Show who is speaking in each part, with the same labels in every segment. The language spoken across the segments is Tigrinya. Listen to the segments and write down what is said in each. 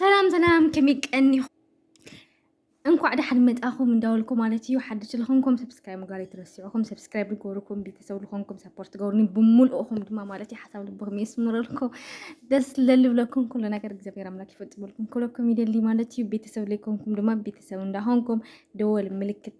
Speaker 1: ሰላም ሰላም ከመይ ቀኒኹ እንኳዕ ደሓን መጣኹም እንዳበልኩ ማለት እዩ ሓድሽ ዝኾንኩም ሰብስክራይብ ምግባር ኣይትረስዑኹም ሰብስክራይብ ንገብርኩም ቤተሰብ ዝኾንኩም ሰፖርት ገብሩኒ ብምልእኹም ድማ ማለት እዩ ሓሳብ ልብኹም የስምረልኩም ደስ ለልብለኩም ኩሉ ነገር እግዚኣብሔር ኣምላክ ይፈፅመልኩም ክብለኩም ይደሊ ማለት እዩ ቤተሰብ ዘይኮንኩም ድማ ቤተሰብ እንዳኾንኩም ደወል ምልክት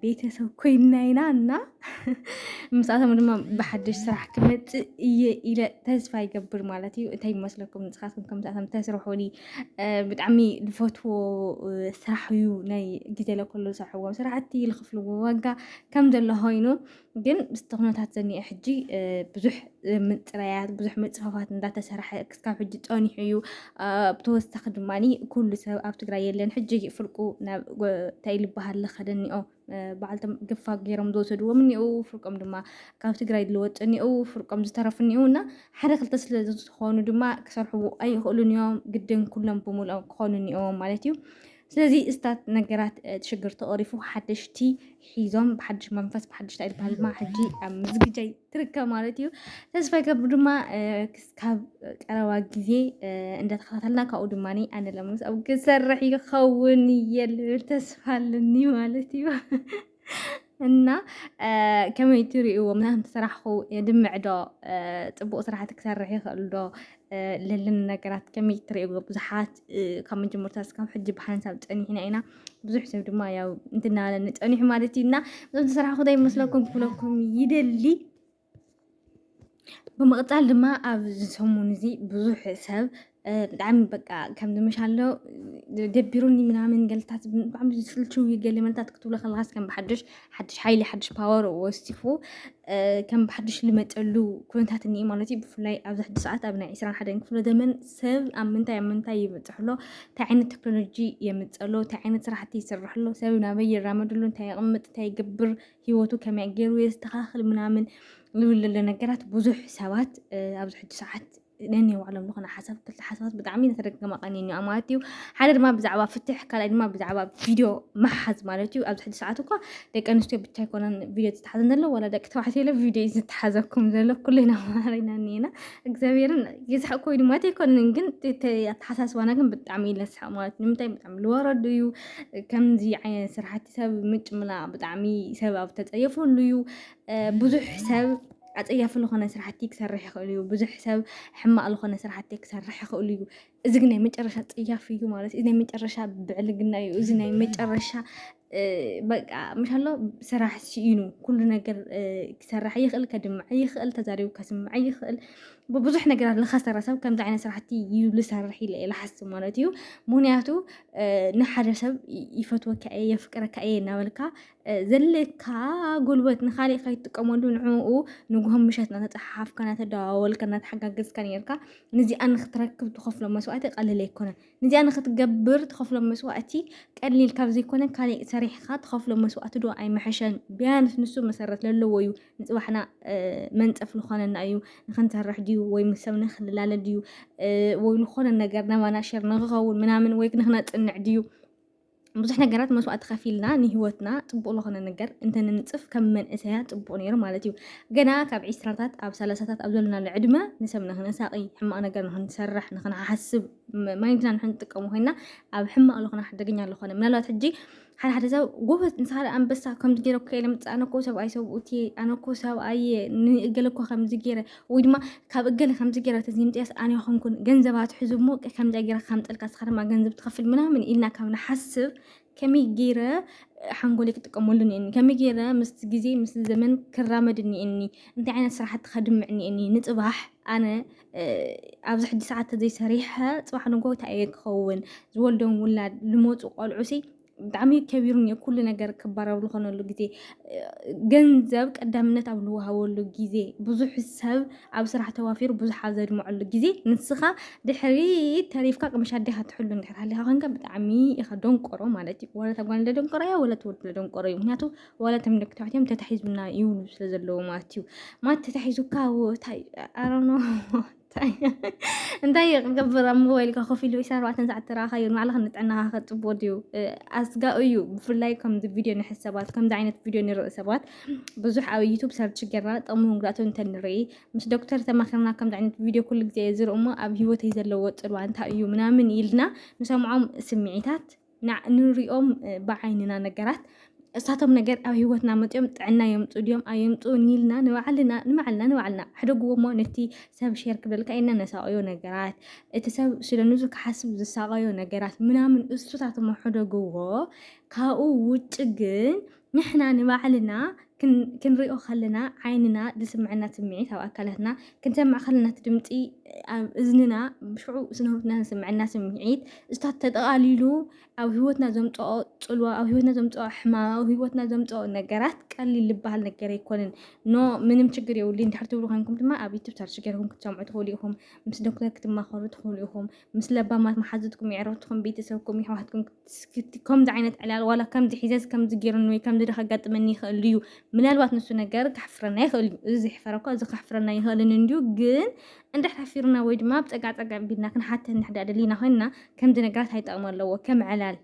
Speaker 1: ቤተሰብ ኮይና ኢና እና ምስኣቶም ድማ ብሓድሽ ስራሕ ክመፅእ እየ ኢለ ተስፋ ይገብር ማለት እዩ እንታይ ይመስለኩም ንስኻትኩም ከምሳቶም ተስርሑኒ ብጣዕሚ ዝፈትዎ ስራሕ እዩ ናይ ግዜ ለከሉ ዝሰርሕዎም ስራሕቲ ዝኽፍልዎ ዋጋ ከም ዘሎ ኮይኑ ግን ምስቲ ኩነታት ዘኒአ ሕጂ ብዙሕ ምፅራያት ብዙሕ ምፅፋፋት እንዳተሰርሐ ክስካብ ሕጂ ፀኒሑ እዩ። ብተወሳኺ ድማ ኩሉ ሰብ ኣብ ትግራይ የለን ሕጂ ፍርቁ ናብ እንታይ ልበሃል ዝኸደ እኒኦ በዓልቶም ግፋ ገይሮም ዝወሰድዎም እኒኡ ፍርቆም ድማ ካብ ትግራይ ዝለወጡ እኒኡ ፍርቆም ዝተረፉ እኒኡ እና ሓደ ክልተ ስለ ዝኾኑ ድማ ክሰርሕዎ ኣይኽእሉን እዮም። ግድን ኩሎም ብምልኦም ክኾኑ እኒኦዎም ማለት እዩ። ስለዚ እስታት ነገራት ሽግር ተቐሪፉ ሓደሽቲ ሒዞም ብሓድሽ መንፈስ ብሓድሽ ታይ ዝበሃል ድማ ሕጂ ኣብ ምዝግጃይ ትርከብ ማለት እዩ ተስፋ ይገብር ድማ ክስካብ ቀረባ ግዜ እንዳተኸታተልና ካብኡ ድማ ኣነ ለምስ ኣብ ክሰርሕ ይኸውን እየ ልብል ተስፋ ኣለኒ ማለት እዩ እና ከመይ ትርእይዎ ምናምን ስራሕኹ የድምዕ ዶ ፅቡቅ ስራሕቲ ክሰርሕ ይኽእል ዶ ለለኒ ነገራት ከመይ ትርእይዎ ብዙሓት ካብ መጀመርታ እስካብ ሕጂ ብሓንሳብ ፀኒሕና ኢና ብዙሕ ሰብ ድማ ያው እንትናለኒ ፀኒሑ ማለት እዩ እና እዞም ዝስራሕኹ ዶ ይመስለኩም ክብለኩም ይደሊ ብምቕጻል ድማ ኣብዚ ሰሙን እዚ ብዙሕ ሰብ ብጣዕሚ በቃ ከም ዝመሻሎ ደቢሩኒ ምናምን ገልታት ብጣዕሚ ዝስልችው ገለ መልታት ክትብሎ ከለኻስ ከም ብሓድሽ ሓድሽ ሓይሊ ሓድሽ ፓወር ወሲኹ ከም ብሓድሽ ልመጸሉ ኩነታት እኒአ ማለት እዩ ብፍላይ ኣብዚ ሕጂ ሰዓት ኣብ ናይ ዕስራን ሓደን ክፍለ ዘመን ሰብ ኣብ ምንታይ ኣብ ምንታይ ይበጽሕ ኣሎ እንታይ ዓይነት ቴክኖሎጂ የምጽእ ኣሎ እንታይ ዓይነት ስራሕቲ ይስርሕ ኣሎ ሰብ ናበይ ይራመድ ኣሎ እንታይ የቕምጥ እንታይ ይገብር ሂወቱ ከመይ ገይሩ የስተኻኽል ምናምን ዝብል ዘሎ ነገራት ብዙሕ ሰባት ኣብዚ ሕጂ ሰዓት ነኒ ባዕሎም ዝኾነ ሓሳብ ክልተ ሓሳባት ብጣዕሚ ተደጋጋሚ ቀንየን እዩ ማለት እዩ ሓደ ድማ ብዛዕባ ፍትሕ ካልኣይ ድማ ብዛዕባ ቪድዮ ምሓዝ ማለት እዩ ኣብዚ ሕጂ ሰዓት እኳ ደቂ ኣንስትዮ ብቻ ኣይኮነን ቪድዮ ዝተሓዘን ዘሎ ዋላ ደቂ ተባዕትዮ ለ ቪድዮ እዩ ዝተሓዘኩም ዘሎ ኩልና ማሃሪና እኒና እግዚኣብሔርን የስሕቅ ኮይኑ ማለት ኣይኮነን ግን እቲ ኣተሓሳስባና ግን ብጣዕሚ እዩ ለስሕቅ ማለት እዩ ንምንታይ ብጣዕሚ ዝወረዱ እዩ ከምዚ ዓይነት ስራሕቲ ሰብ ምጭምላቕ ብጣዕሚ ሰብ ኣብ ተፀየፈሉ እዩ ብዙሕ ሰብ ኣፀያፊ ዝኾነ ስራሕቲ ክሰርሕ ይኽእል እዩ ብዙሕ ሰብ ሕማቕ ዝኾነ ስራሕቲ ክሰርሕ ይኽእል እዩ እዚ ግን ናይ መጨረሻ ፀያፊ እዩ ማለት እዩ ናይ መጨረሻ ብዕልግና እዩ እዚ ናይ መጨረሻ በቃ ምሻሎ ስራሕ ስኢኑ ኩሉ ነገር ክሰርሕ ይኽእል ከድምዐ ይኽእል ተዛሪቡ ከስምዐ ይኽእል ብብዙሕ ነገራት ዝኸሰረ ሰብ ከምዚ ዓይነት ስራሕቲ እዩ ዝሰርሕ ኢለ እየ ዝሓስብ ማለት እዩ ምክንያቱ ንሓደ ሰብ ይፈትወካ እየ የፍቅረካ እየ እናበልካ ዘለካ ጉልበት ንካሊእ ከይትጥቀመሉ ንዕኡ ንጉሆም ምሸት እናተፀሓሓፍካ እናተደዋወልካ እናተሓጋገዝካ ነርካ ንዚኣ ንክትረክብ ትኸፍሎ መስዋእቲ ቀሊል ኣይኮነን ንዚኣ ንኽትገብር ትኸፍሎ መስዋእቲ ቀሊል ካብ ዘይኮነ ካሊእ ሰሪሕኻ ትኸፍሎ መስዋእቲ ዶ ኣይምሐሸን? ቢያንስ ንሱ መሰረት ለለዎ እዩ ንፅባሕና መንፀፍ ልኾነና እዩ ንኽንሰርሕ ድዩ ወይ ምስ ሰብ ንኽንላለ ድዩ ወይ ልኾነ ነገር ናባና ሸር ንኽኸውን ምናምን ወይ ንኽነፅንዕ ድዩ ብዙሕ ነገራት መስዋእቲ ከፊልና ንሂወትና ፅቡቅ ዝኾነ ነገር እንተንንፅፍ ከም መንእሰያ ፅቡቅ ነይሩ ማለት እዩ ገና ካብ ዒስራታት ኣብ ሰላሳታት ኣብ ዘለናሉ ዕድመ ንሰብ ንክነሳቂ ሕማቅ ነገር ንክንሰርሕ ንክንሓስብ ማይንድና ንክንጥቀሙ ኮይና ኣብ ሕማቅ ዝኾነ ሓደገኛ ዝኾነ ምናልባት ሕጂ ሓደ ሓደ ሰብ ጎበዝ ንስኻ ኣንበሳ ከምዚ ገይረ ከይለ ምፃ ኣነኮ ሰብኣይ ሰብኡት ኣነኮ ሰብኣየ ንእገለ እኮ ከምዚ ገይረ ወይ ድማ ካብ እገለ ከምዚ ገይራ ተዘይምፅያስ ኣነ ይኾንኩን ገንዘብ ኣትሕዙ እሞ ከምዚ ገይራ ከምጠልካ ስኻ ድማ ገንዘብ ትኸፍል ምናምን ኢልና ካብ ንሓስብ ከመይ ገይረ ሓንጎለይ ክጥቀመሉ እኒአኒ ከመይ ገይረ ምስ ግዜ ምስ ዘመን ክራመድ እኒአኒ እንታይ ዓይነት ስራሕቲ ከድምዕ እኒአኒ ንፅባሕ ኣነ ኣብዚ ሕጂ ሰዓት ተዘይሰሪሐ ፅባሕ ንጎ እንታይ እየ ክኸውን ዝወልዶም ውላድ ዝመፁ ቆልዑሲ ብጣዕሚ ከቢሩን እዩ ኩሉ ነገር ክባር ኣብ ዝኾነሉ ግዜ ገንዘብ ቀዳምነት ኣብ ዝወሃበሉ ግዜ ብዙሕ ሰብ ኣብ ስራሕ ተዋፊሩ ብዙሕ ኣብ ዘድምዐሉ ግዜ ንስኻ ድሕሪ ተሪፍካ ቅምሻ ኣዴኻ ትሕሉ እንድሕር ሃሊኻ ኮንካ ብጣዕሚ ኢኻ ደንቆሮ ማለት እዩ ዋላ እታ ጓል ደንቆሮ እያ ዋላ እቲ ወዲ ደንቆሮ እዩ ምክንያቱ ዋላ እቶም ደቂ ተባዕትዮም ተታሒዙና ይብሉ ስለ ዘለዉ ማለት እዩ ማለት ተታሒዙካ እንታይ ኣሮኖ እንታይ እዩ ክገብር ኣብ ሞባይል ካ ኮፍ ኢሉ ኢሳት ኣርባዕተ ሰዓት ተረኣኻዮ ንባዕልኻ ንጥዕናኻ ከጽብቦ ድዩ ኣስጋኡ እዩ ብፍላይ ከምዚ ቪድዮ ንሕዝ ሰባት ከምዚ ዓይነት ቪድዮ ንርኢ ሰባት ብዙሕ ኣብ ዩቱብ ሰርች ጌርና ጥቕሙን ጉድኣቱን እንተ ንርኢ ምስ ዶክተር ተማኺርና ከምዚ ዓይነት ቪድዮ ኩሉ ግዜ ዝርኢ እሞ ኣብ ሂወተይ ዘለዎ ጽልዋ እንታይ እዩ ምናምን ኢልና ንሰምዖም ስምዒታት ንሪኦም ብዓይንና ነገራት እሳቶም ነገር ኣብ ሂወትና መፅኦም ጥዕና የምፅኡ ድዮም ኣየምፅኡን ኢልና ንባዕልና ንባዕልና ንባዕልና ኣሕደግዎ እሞ ነቲ ሰብ ሼር ክብለልካ ኢልና ነሳቐዮ ነገራት እቲ ሰብ ስለ ንሱ ክሓስብ ዝሳቐዮ ነገራት ምናምን እሱታት እሞ ሕደግዎ ካብኡ ውጭ ግን ንሕና ንባዕልና ክንሪኦ ከለና ዓይንና ዝስምዐና ስምዒት ኣብ ኣካላትና ክንሰምዕ ከለና እቲ ድምፂ ኣብ እዝንና ሽዑ ስነህይወትና ዝስምዐና ስምዒት እሱታት ተጠቓሊሉ ኣብ ህይወትና ዘምፅኦ ፅልዋ ኣብ ህይወትና ዘምፅኦ ሕማም ኣብ ህይወትና ዘምፅኦ ነገራት ቀሊል ዝበሃል ነገር ኣይኮንን ኖ ምንም ችግር የብሉን ድሕር ትብሉ ኮንኩም ድማ ኣብ ዩቱብ ሰርች ገይርኩም ክትሰምዑ ትኽእሉ ኢኹም ምስ ዶክተር ክትማኸሩ ትኽእሉ ኢኹም ምስ ለባማት መሓዙትኩም የዕረኽትኩም ቤተሰብኩም ይሕዋትኩም ስክቲ ከምዚ ዓይነት ዕላል ዋላ ከምዚ ሒዘስ ከምዚ ጌርኒ ወይ ከምዚ ዶ ከጋጥመኒ ይኽእል እዩ ምናልባት ንሱ ነገር ካሕፍረና ይኽእል እዩ እዚ ዘሕፈረ እኳ እዚ ካሕፍረና ይኽእልን እንድዩ ግን እንድሕር ሓፊርና ወይ ድማ ኣብ ፀጋዕ ፀጋዕ ቢልና ክንሓተ እንድሕዳ ደሊና ኮይንና ከምዚ ነገራት ኣይጠቕሚ ኣለዎ ከም ዕላል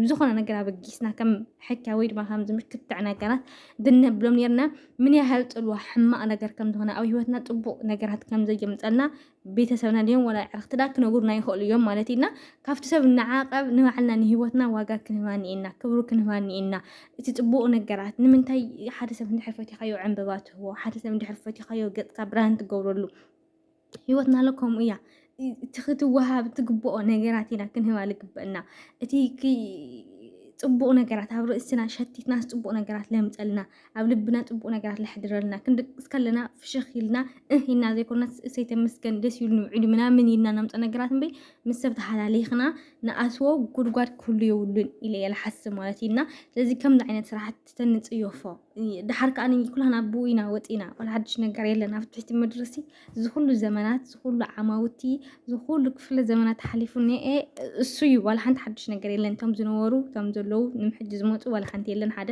Speaker 1: ብዝኾነ ነገር ኣበጊስና ከም ሕኪያ ወይ ድማ ከምዚ ምክትዕ ነገራት ብንብሎም ነርና ምን ያህል ፅልዋ ሕማቕ ነገር ከም ዝኾነ ኣብ ህይወትና ፅቡቕ ነገራት ከም ዘየምፀልና ቤተሰብና ድዮም ወላ ዕርክትና ክነግሩና ይኽእሉ እዮም ማለት ኢና ካብቲ ሰብ ንዓቐብ ንባዕልና ንሂወትና ዋጋ ክንህባ ኒኤና ክብሩ ክንህባ ኒኤና እቲ ፅቡቕ ነገራት ንምንታይ ሓደ ሰብ እንድሕር ፈቲኻዮ ዕንበባ ትህቦ ሓደ ሰብ እንድሕር ፈቲኻዮ ገፅካ ብርሃን ትገብረሉ ሂወትና ኣሎ ከምኡ እያ እቲ ክትወሃብ ትግብኦ ነገራት ኢና ክንህባ ልግበእና እቲ ፅቡቕ ነገራት ኣብ ርእስና ሸቲትና ፅቡቕ ነገራት ለምፀልና ኣብ ልብና ጽቡቅ ነገራት ለሕድረልና ክንድቅስ ከለና ፍሽኽ ኢልና እህ ኢልና ዘይኮነስ እሰይ ተመስገን ደስ ኢሉኒ ውዒሉ ምናምን ኢልና ነምጾ ነገራት እምበይ ምስ ሰብ ተሓላሊኽና ንኣትዎ ጉድጓድ ክህሉ የብሉን ኢለ እየ ልሓስብ ማለት እዩ እና ስለዚ ከምዚ ዓይነት ስራሕቲ ተንጽዮፎ ድሓር ከዓ ኩላና ብኡ ኢና ወፂና ዋላ ሓድሽ ነገር የለን ኣብ ትሕቲ ምድሪ ሲ ዝኩሉ ዘመናት ዝኩሉ ዓማውቲ ዝኩሉ ክፍለ ዘመናት ሓሊፉ እኒአ እሱ እዩ ዋላ ሓንቲ ሓድሽ ነገር የለን እቶም ዝነበሩ እቶም ዘለዉ ንምሕጂ ዝመፁ ዋላ ሓንቲ የለን ሓደ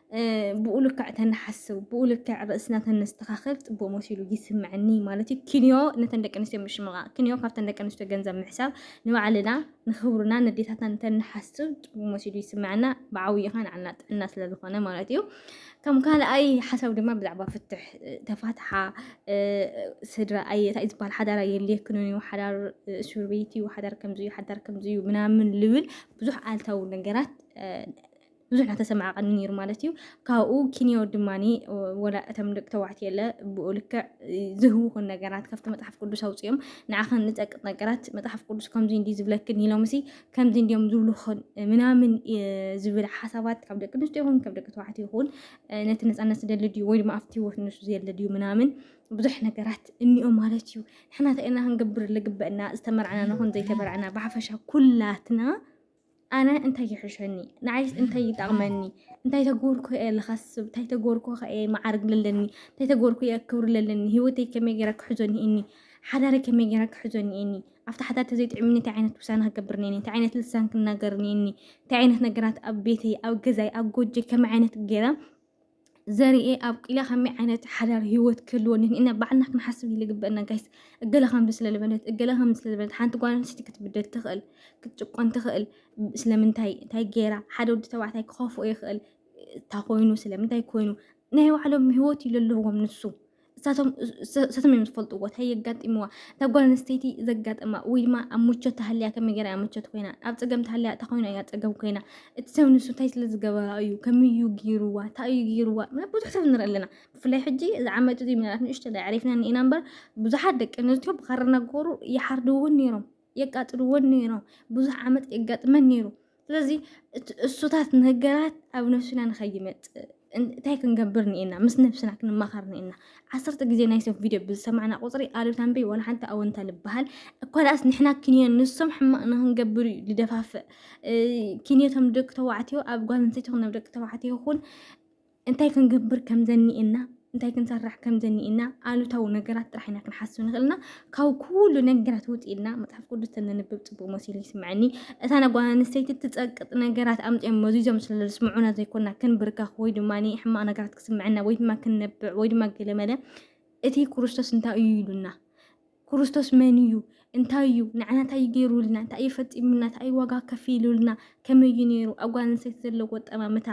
Speaker 1: ብኡ ልክዕ ተንሓስብ ብኡ ልክዕ ርእስና ተነስተኻኸል ፅቡቅ መሲሉ ይስምዐኒ ማለት እዩ ክንዮ ነተን ደቂ ኣንስትዮ ምሽምቓ ክንዮ ካብተን ደቂ ኣንስትዮ ገንዘብ ምሕሳብ ንባዕልና ንኽብርና ነዴታትና ተንሓስብ ፅቡቅ መሲሉ ይስምዐና ብዓብዩ ኸ ንዓና ጥዕና ስለ ዝኾነ ማለት እዩ ከም ካልኣይ ሓሳብ ድማ ብዛዕባ ፍትሕ ተፋትሓ ስድራ ኣየ እንታይ ዝበሃል ሓዳር ኣየድልየክንን እዩ ሓዳር እስር ቤት እዩ ሓዳር ከምዚ እዩ ሓዳር ከምዚ እዩ ምናምን ልብል ብዙሕ ኣልታዊ ነገራት ብዙሕ እናተሰማዕቐኒ ነይሩ ማለት እዩ ካብኡ ኪንዮ ድማ ወላ እቶም ደቂ ተባዕትዮ የለ ብኡ ልክዕ ዝህውኹን ነገራት ካብቲ መፅሓፍ ቅዱስ ኣውፅኦም ንዓኸን ንፀቅጥ ነገራት መፅሓፍ ቅዱስ ከምዚ እንዲ ዝብለክን ኢሎምሲ ከምዚ እንዲዮም ዝብልኹን ምናምን ዝብል ሓሳባት ካብ ደቂ ኣንስትዮ ይኹን ካብ ደቂ ተባዕትዮ ይኹን ነቲ ነፃነት ዝደሊ ድዩ ወይ ድማ ኣብቲ ህይወት ንሱ ዘየለ ድዩ ምናምን ብዙሕ ነገራት እኒኦ ማለት እዩ ንሕና እንታይ ኢና ክንገብር ልግበእና ዝተመርዕና ንኹን ዘይተመርዕና ብሓፈሻ ኩላትና ኣነ እንታይ ይሕሸኒ ንዓይስ እንታይ ይጠቕመኒ እንታይ ተጎርኩ እየ ዝኸስብ እንታይ ተጎርኩ ከ እየ መዓርግ ለለኒ እንታይ ተጎርኩ እየ ክብሪ ለለኒ ህይወተይ ከመይ ገይረ ክሕዞ እኒ ሓዳረ ከመይ ገይረ ክሕዞ እኒ ኣብቲ ሓዳር ተዘይጥዕምኒ እንታይ ዓይነት ውሳነ ክገብር እኒ እንታይ ዓይነት ልሳን ክናገር እኒ እንታይ ዓይነት ነገራት ኣብ ቤተይ ኣብ ገዛይ ኣብ ጎጆይ ከመይ ዓይነት ገይረ ዘርኤ ኣብቂላ ከመይ ዓይነት ሓዳር ሂወት ክህልወኒ ኢና ባዕልና ክንሓስብ ዝግበአና ጋይስ እገለ ከምዚ ስለ ዝበለት እገለ ከምዚ ስለ ዝበለት ሓንቲ ጓል ኣንስተይቲ ክትብደል ትኽእል ክትጭቆን ትኽእል ስለምንታይ እንታይ ገይራ ሓደ ወዲ ተባዕታይ ክኸፍኦ ይኽእል እንታይ ኮይኑ ስለምንታይ ኮይኑ ናይ ባዕሎም ሂወት እዩ ዘለዎም ንሱ ንሳቶም እዮም ዝፈልጥዎ እንታይ የጋጢምዋ እታ ጓል ኣንስተይቲ ዘጋጠማ ወይ ድማ ኣብ ምቾት ተሃልያ ከመይ ገይራ እያ ምቾት ኮይና ኣብ ፀገም ተሃልያ እታ ኮይና እያ ፀገም ኮይና እቲ ሰብ ንሱ እንታይ ስለ ዝገበራ እዩ ከመይ እዩ ገይርዋ እንታይ እዩ ገይርዋ ምናምን ብዙሕ ሰብ ንርኢ ኣለና ብፍላይ ሕጂ እዚ ዓመት እዚ ምናልባት ንእሽተይ ኣዕሪፍና እኒኤና እምበር ብዙሓት ደቂ ኣንስትዮ ብኻራ እናገበሩ ይሓርዱ እውን ነይሮም የቃጽልዎን ነይሮም ብዙሕ ዓመት የጋጥመን ነይሩ ስለዚ እሱታት ነገራት ኣብ ነብስና ንኸይመፅእ እንታይ ክንገብር ንኤና ምስ ነብስና ክንማኸር ንኤና ዓሰርተ ግዜ ናይ ሰብ ቪድዮ ብዝሰማዕና ቁፅሪ ኣሉታ እምበይ ዋላ ሓንቲ ኣወንታ ልበሃል እኳ ዳኣስ ንሕና ክንዮ ንሶም ሕማቕ ንክንገብር እዩ ዝደፋፍእ ክንዮቶም ደቂ ተባዕትዮ ኣብ ጓል ኣንስተይቲ ይኹን ኣብ ደቂ ተባዕትዮ ይኹን እንታይ ክንገብር ከም ዘኒእና እንታይ ክንሰርሕ ከም ዘኒእና ኣሉታዊ ነገራት ጥራሕ ኢና ክንሓስብ ንኽእልና ካብ ኩሉ ነገራት ውፅ ኢልና መፅሓፍ ቅዱስ ተንንብብ ፅቡቅ መሲሉ ይስምዐኒ እታ ነጓል ኣንስተይቲ ትፀቅጥ ነገራት ኣምፅኦም መዚዞም ስለ ዝስምዑና ዘይኮና ክንብርከኽ ወይ ድማ ሕማቅ ነገራት ክስምዐና ወይ ድማ ክንነብዕ ወይ ድማ ገለመለ እቲ ክርስቶስ እንታይ እዩ ኢሉና ክርስቶስ መን እዩ እንታይ እዩ ንዓና እንታይ እዩ ገይሩልና እንታይ እዩ ፈፂሙልና እንታይ እዩ ዋጋ ከፊሉልና ከመይ እዩ ነይሩ ኣብ ጓል ኣንስተይቲ ዘለዎ ጠማምታ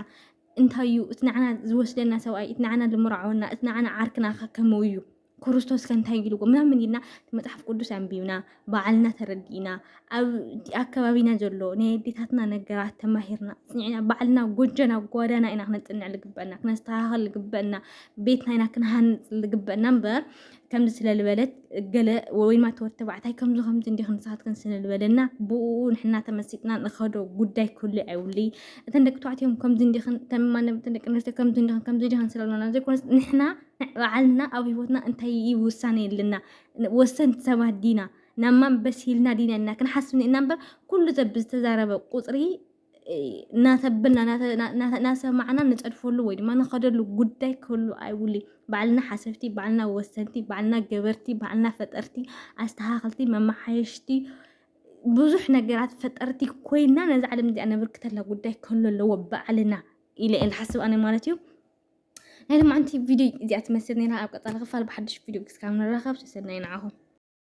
Speaker 1: እንታይ እዩ እቲ ንዓና ዝወስደና ሰብኣይ እቲ ንዓና ዝምርዓወና እቲ ንዓና ዓርክና ከ ከመኡ እዩ ክርስቶስ ከ እንታይ ኢልዎ ምናምን ኢልና መፅሓፍ ቅዱስ ኣንቢብና ባዕልና ተረዲእና ኣብ ኣከባቢና ዘሎ ናይ ኣዴታትና ነገራት ተማሂርና ፅኒዕና ባዕልና ጎጆና ጓዳና ኢና ክነፅንዕ ዝግበአና ክነስተኻኸል ዝግበአና ቤትና ኢና ክንሃንፅ ዝግበአና እምበር ከምዚ ስለ ዝበለት ገለ ወይ ድማ ተወድ ተባዕታይ ከምዚ ከምዚ እንዲኽን ንስኻትክን ስለ ዝበለና ብኡ ንሕና ተመሲጥና ንኸዶ ጉዳይ ክህሉ ኣይብሉ እተን ደቂ ተባዕትዮም ከምዚ እንዲኽን ተማነ እተን ደቂ ኣንስትዮ ከምዚ እንዲኽን ከምዚ እንዲኽን ስለ ዝበለና ዘይኮነስ ንሕና በዓልና ኣብ ሂወትና እንታይ እዩ ውሳነ የለና ወሰንቲ ሰባት ዲና ናብ ማን በሲልና ዲና ኢና ክንሓስብ ኒእና እምበር ኩሉ ሰብ ብዝተዛረበ ቁፅሪ እናተብልና እናሰማዕና ንፀድፈሉ ወይ ድማ ንኸደሉ ጉዳይ ክህሉ ኣይብሉ ባዕልና ሓሰብቲ ባዕልና ወሰንቲ ባዕልና ገበርቲ ባዕልና ፈጠርቲ ኣስተኻኸልቲ መመሓየሽቲ ብዙሕ ነገራት ፈጠርቲ ኮይና ነዚ ዓለም እዚኣ ነብርክተላ ጉዳይ ክህሉ ኣለዎ ባዕልና ኢለ እየ ዝሓስብ ኣነ ማለት እዩ ናይ ልማዓንቲ ቪድዮ እዚኣ ትመስል ነይራ ኣብ ቀፃሊ ክፋል ብሓድሽ ቪድዮ ክስካብ ንራኸብ ሰሰናይ ንዓኹም